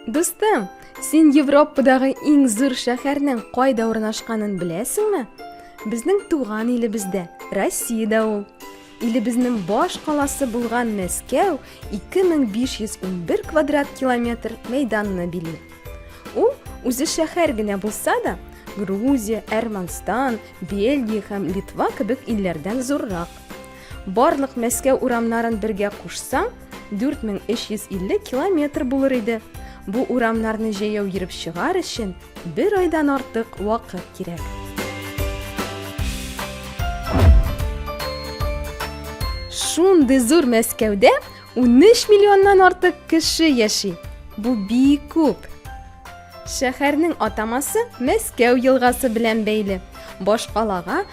Дустым, син Европадагы иң зур шәһәрнең кайда урнашканын беләсеңме? Безнең туган илебездә, Россиядә ул. Илебезнең баш каласы булган Мәскәү 2511 квадрат километр мәйданны били. Ул үзе шәһәр генә булса да, Грузия, Әрмәнстан, Бельгия һәм Литва кебек илләрдән зуррак. Барлык Мәскәү урамнарын бергә кушсаң, 4350 километр булыр иде. Бу урамнарны җәяү йөреп чыгар өчен бер айдан артык вакыт кирәк. Шундый зур Мәскәүдә 13 миллионнан артык кеше яши. Бу бик күп. Шәһәрнең атамасы Мәскәү елгасы белән бәйле. Башкалага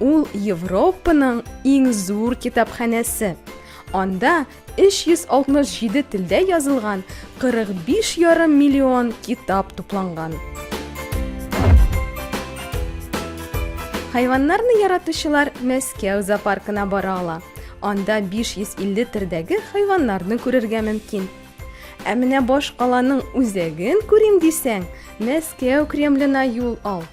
Ул Европаның иң зур китапханәсе. Анда 367 телдә язылган 45 ярым миллион китап тупланган. Хайваннарны яратучылар Мәскәү зоопаркына бара ала. Анда 550 төрдәге хайваннарны күрергә мөмкин. Ә менә баш каланың үзәген күрим дисәң, Мәскәү Кремлена юл ал.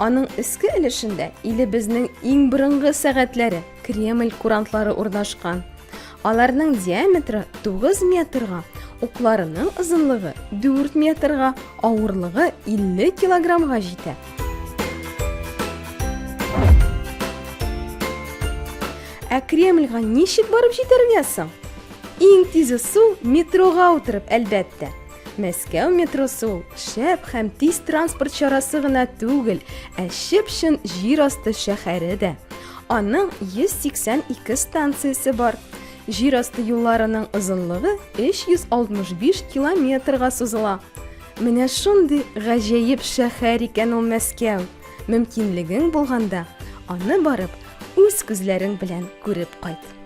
Аның өске өлешендә илебезнең иң борынгы сәгатьләре, Кремль курантлары урнашкан. Аларның диаметры 9 метрга, укларының озынлыгы 4 метрга, авырлыгы 50 килограммга җитә. Ә Кремльга ничек барып җитәргә соң? Иң тизе су метрога утырып, әлбәттә. Мәскәү метросы ул шәп һәм тиз транспорт чарасы гына түгел, ә чып-чын җир асты шәһәре дә. Аның 182 станциясе бар. Җир асты юлларының озынлыгы 365 километрга сузыла. Менә шундый гаҗәеп шәһәр икән ул Мәскәү. Мөмкинлегең булганда, аны барып үз күзләрең белән күреп кайт.